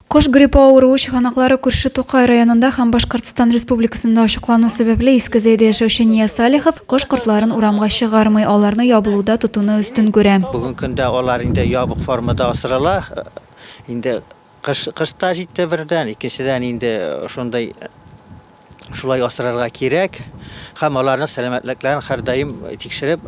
Кош гриппы авыруы чыганаклары күрше Тукай районында һәм Башкортстан Республикасында ачыклану сәбәпле Иске Зәйдә яшәүче Нияз Салихов кош-кортларын урамга чыгармый, аларны ябылуда тотуны өстен күрә. Бүгенге көндә алар инде ябык формада асрала. Инде кыш та җитте бердән, икенчедән инде шундый, Шулай асрарга кирәк һәм аларның сәламәтлекләрен һәрдаим тикшереп,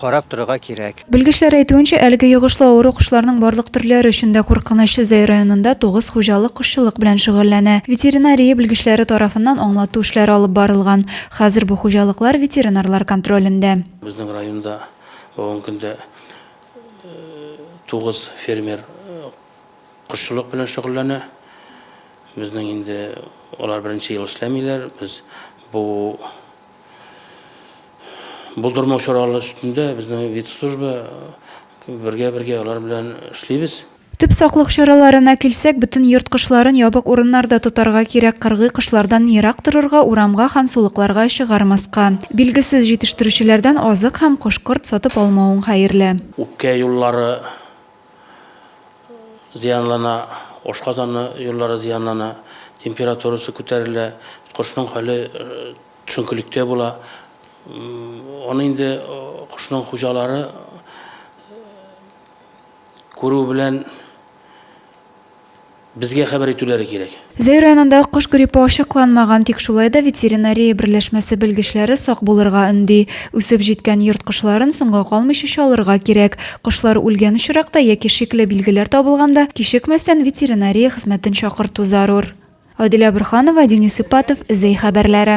карап торырга кирәк. Белгечләр әйтүенчә, әлеге йогышлы авыру кошларның барлык төрләре өчен дә куркыныч. Зәй районында тугыз хуҗалык кошчылык белән шөгыльләнә. Ветеринария белгечләре тарафыннан аңлату эшләре алып барылган. Хәзер бу хуҗалыклар ветеринарлар контролендә. Безнең районда бүгенге көндә тугыз фермер Кошчылык белән шөгыльләнә. Безнең инде алар беренче ел эшләмиләр. Без бу булдырмау чаралары өстендә безнең ветслужба бергә-бергә алар белән эшлибез. Төп саклык чараларына килсәк, бөтен йорт кошларын ябык урыннарда тотарга кирәк, кыргый кошлардан ерак торырга, урамга һәм сулыкларга чыгармаска. Билгесез җитештерүчеләрдән азык һәм кош-корт сатып алмавың хәерле. Үпкә юллары. зыянлана, ашказаны юллары зыянлана, температурасы күтәрелә, кошның хәле төшенкелектә була. Аны инде кошның хуҗалары күрү белән Безгә хәбәр итүләре кирәк. Зәй районында кош гриппы ачыкланмаган, тик шулай да ветеринария берләшмәсе белгечләре сак булырга өнди. Үсеп җиткән йорт кошларын соңга калмыйча чалырга кирәк. Кошлар үлгән очракта яки шикле билгеләр табылганда, кичекмәстән ветеринария хезмәтен чакырту зарур. Адилә Борһанова, Денис Ипатов, Зәй хәбәрләре.